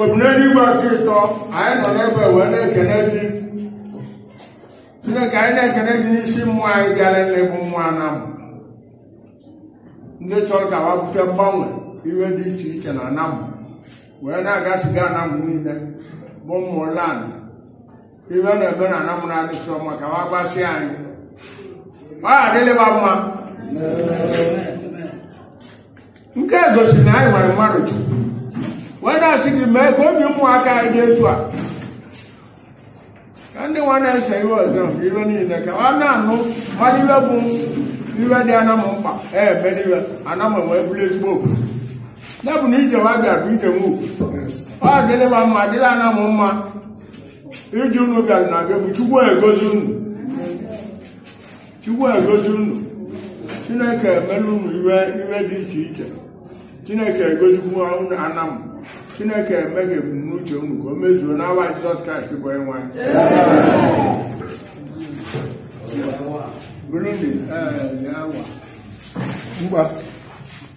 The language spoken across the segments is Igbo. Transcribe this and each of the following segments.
obineluigwe nke ịtọ anyị nọ n'ebe wee na-ekene gị chineke anyị na-ekene gị n'isi ụmụ anyị bịara n'egbu ụmụ anam ndị chọrọ ka wapụta mgbanwe iwe dị iche iche na anam wee na-agasiga anam niile bụ mmụọ land iwe na-eme na anam anyị sịrọ maka wa gbasị anyị ọ adịlịba mma nke a gosiri na anyị nwere mmadụ chukwu wee na-asị gị mee ka obi ụmụaka anyị dị etu a ka ndị nwa na-ese iwe ọzọ bụ iwe niile ka ọ na-anụ mmadụ iwe bụ iwe dị anam mkpa emere iwe anam wee bụrụ ezigbo obodo ya bụ na ije wa bịara bụ ije nwa ugwu ọ dịlịba mma dịlị anam mma ije unu bịara na be m chukwu egozi unu chukwu egozi unu chineke emela unu iwe iwe dị iche iche chineke egozikwu unu anam chineke eme ka ebumnuche unu ka o mezuo n'awa jizọs kraịst bụ onye nwe anyị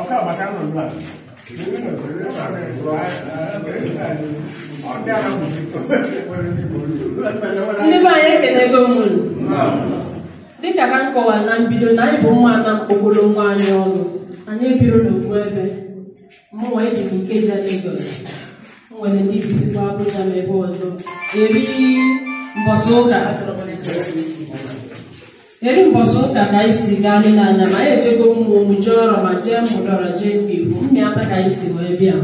ọka maka nọ nọ a ndị be anyị ekenego m unu dịka ka m kọwara na mbido na anyị bụ ụmụ anam kpọkọrọ onwe anyị ọnụ anyị ebiro n'ofu ebe mụnwa ebi m ikeja Lagos e nwere ndị bisikwa Abuja ma ebe ọzọ eri mbọsị ụka Eri mbọsị ụka ka anyị si gaa n'ime anam anyị ejego ụmụem jee oroma jee ụmụdọra jee ụmụikwu mmịata ka anyị si wee bịa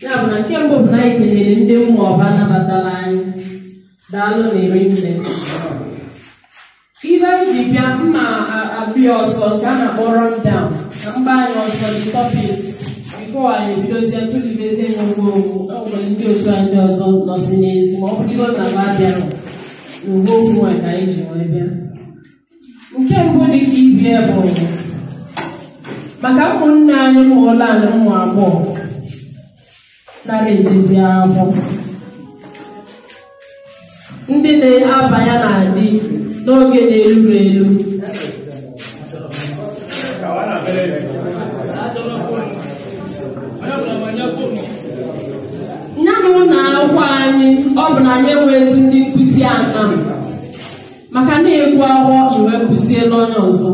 ya bụ na nke mbụ bụ na anyị kenere ndị ụmụọba nabatara anyị daalụnụ rinne iwe anyị ji bịa mma abịa ọsọ nke a na-akpọ run down na mba anyị ọsọ dị topics before anyị ebidozie tụlibezie ngwongwo enwere ndị otu anyị ndị ọzọ nọsi n'ezi ma ọ bụrụ na wa bịara uwe okwu a ka anyị ji wee bịa nke mbụ dị ka ibie bụ maka ụmụnne anyị ụmụ ole na ụmụ agbọghọ nara ejezi akwụkwọ ndị na-abanye na di n'oge na-eruro eru ya na ụlọ akwụkwọ anyị ọ bụ na anyị enweghịzi ndị nkụzi anam maka na-egwu aghọ iwe kụzie n'onye ọzọ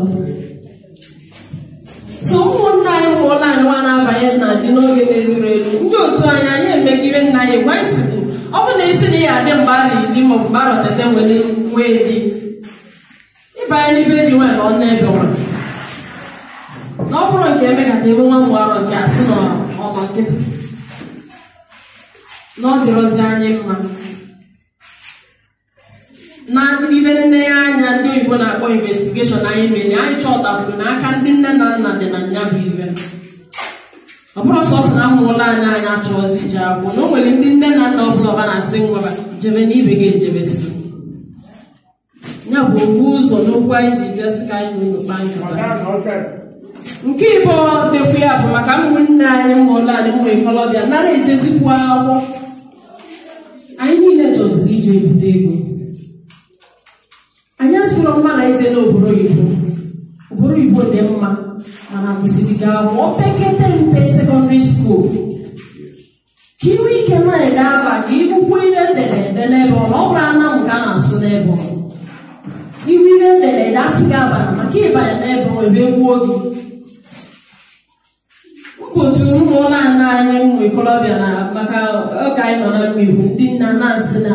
so ụmụnna anyị ụmụ ụlọ anyị nwa na-abanye na di n'oge na-eruro eru ndị otu anyị anyị emegide nna anyị gwa isi bụ ọ bụ na isi na ya adị mgbe arọ iri maọbụ mgbe arọ tete nwere nwee di ịbanye n'ibe ndị nwa na ọnụ ebe nwa na ọ bụrụ nke eme ka ebe nwa mgbe arọ nke asị na ọnọ nkịtị na ọ dịrọzi anyị mma na ibe nne ya anya ndị oyibo na-akpọ investigation anyị mere anyị chọtakwuru na aka ndị nne na nna dị na nya bụ ibe ọ bụrọ sọsọ na ụmụ alọ anyị anyị achọzi ije akwụkwọ na o nwere ndị nne na nna ọ bụlụ ba na-asị nwa ba jebe na ibe gị ejebesiri ya bụ obu ụzọ n'okwu anyị ji bịa sị ka anyị na kpaa nkata nke ịbọ dịkwa ya bụ maka ụmụnne anyị ụmụ alọ anyị ụmụ ikolobịa anara ejezikwu akwụkwọ anyị niile chọziri ije ebute ego anyị asịrọ mba na ije n'obodo oyibo obodo oyibo dị mma mana gụsịrị gị akwụkwọ opekata mpe secondary school ka i nwee ike na-ede aba gị ị gụkwuo ihe edere ede n'ebe ọ ọ bụrọ Anam ka a na-asụ n'ebe ọ ị hụ ihe edere ede asị gị abana maka ịbanye n'ebe ọ ebe gbuo gị mkpotu ụmụnna anyị ụmụ ikolobịa na maka oge anyị nọ na mmegbu ndị nna na-asị na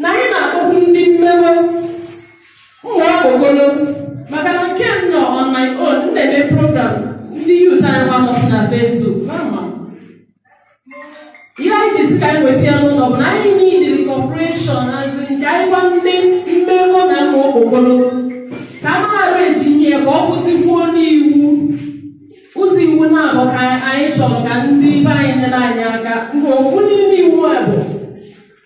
na anyị na-akpọkwu ndị mmewe ụmụ okpokolo maka na nke m nọ on my own m na-eme program ndị youth anyị nwa nọsị na Facebook mana ihe anyị ji si ka anyị weta ya n'ụlọ bụ na anyị need cooperation as in ka anyị gwa ndị mmewe na ụmụ okpokolo ka a mara eji nye ya ka ọ kwụsịkwuo n'iwu ụzọ iwu na-abụ ka anyị chọrọ ka ndị be anyị nyere anyị aka nke okwu n'ime iwu a bụ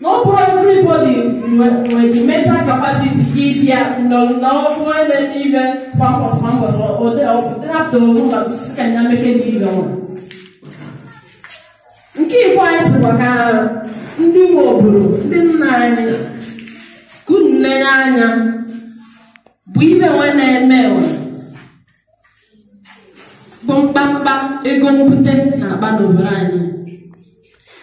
na ọ bụrọ everybody nwere the mental capacity ịbịa n'ọfụ ebe ibe kwa mbọsị kwa mbọsị ọdịrapụta onwe ụlọ ka ya meke na ibe ọrụ nke ikwu anyị sịkwa ka ndị nwe obodo ndị nna anyị ka unu na-enye anya bụ ibe nwe na-eme ụwa bụ mkpamkpa ego mbute na-akpa n'obodo anyị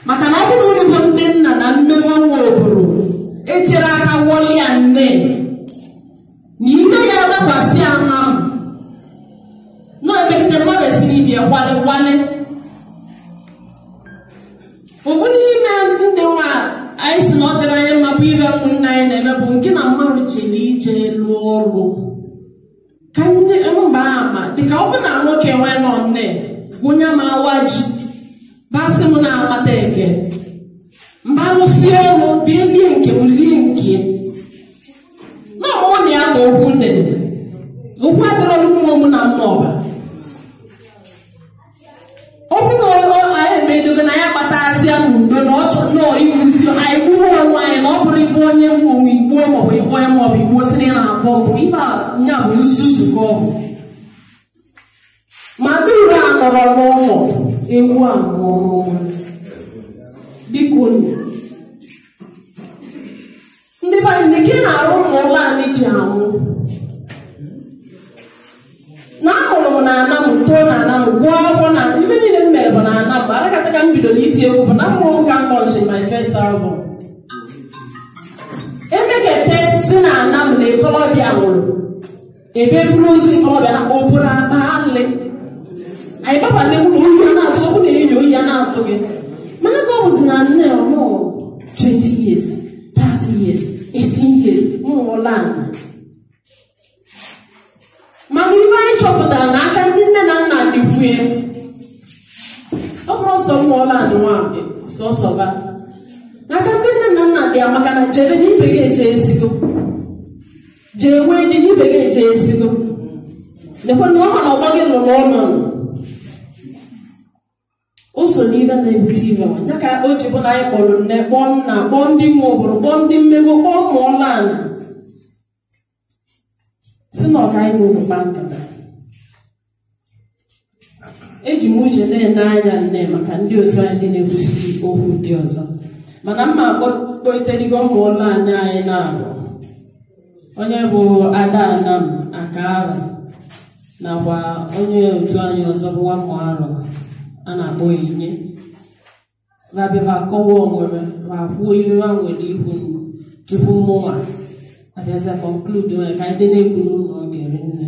maka na ọ bụrụ unu bụ ndị nna na nne nwa nwe obodo echere aka wọlịa nne na ime ya dakwasị Anam na-emegide mmadụ esiri ibi ya gwale gwale ofu n'ime ndị nwa anyị si na ọ dịrọ anyị mma bụ ibe ụmụnna anyị na-eme bụ nke na mmadụ chere ije lụọ ọrụ ka nne mba ama dịka ọ bụ na nwoke nwee nọ nne onye ma awa ji basị m na-amata eke mba lụsi ọrụ bịa lie nke m lie nke na ọmụ na ya ka okwu dị okwu adịrọlụ mmụọ mụ na mmụọ ọba ọ bụrụ na anyị emedogo na ya kpatazia n'udo na ọ chọrọ nọọ iwuzi anyị gbuo onwe anyị na ọ bụrụ ife onye mgbu onwe igbuo maọbụ igbuo ya maọbụ igbuo si na ị na-abọ mbọ ife a nya bụ nzuzu ka ọ bụ ma ndị ure a nọrọ n'ụlọ ewu a nọrọ n'ụlọ biko nụ Ndị be anyị nke ị na-arụ ụmụ ụlọ anyị ji anwụ na amụrụ m na anam too na anam gụọ akwụkwọ na ife niile m mere bụ na anam bụ arakata ka m bidoro iti egwu bụ na mmụọ m ka m lọnchị my first album emekete si na anam na ikolobịa nwụrụ ebe eburu ozu ntorobịa na obere akpa alị anyị baba nne m na oyi a na-atụ ọ bụ na enyi oyi a na-atụ gị mana ka ọ bụzi na nne ọ nọ 20 years 30 years 18 years ụmụ ụlọ anyị mana ife anyị chọpụtara na aka ndị nne na nna dịkwa ya ọ bụrọ sọ ụmụ ụlọ anyị nwa sọsọ ba n'aka ndị nne na nna dị ya maka na jebe na ibe gị ejesigo jee nwee di ibe gị ejesigo lekwa na ọ ma na ọgbọ gị nọ n'ọnụ o so n'ihe na-ebute ife nwa ya ka o ji bụ na anyị kpọrọ nne kpọọ nna kpọọ ndị nwe obodo kpọọ ndị nwe ego kpọọ ụmụ ọla ala si na ka anyị nọrọ kpa nkata eji m uche na-ele anya nne maka ndị otu anyị ndị na-ekwusi okwu ndị ọzọ mana mma akpọkpọiterigo ụmụ ụlọ anyị anyị na-abụ onye bụ ada anam aka arụ nakwa onye otu anyị ọzọ bụ nwa mmụ arụ a na-akpọ onyinye ba bịa ma kọwa onwe ha ma kwuo ihe ha nwere ikwu tupu mụnwa abịazia conclude onye ka ndị na-egbu n'ụlọ oge nne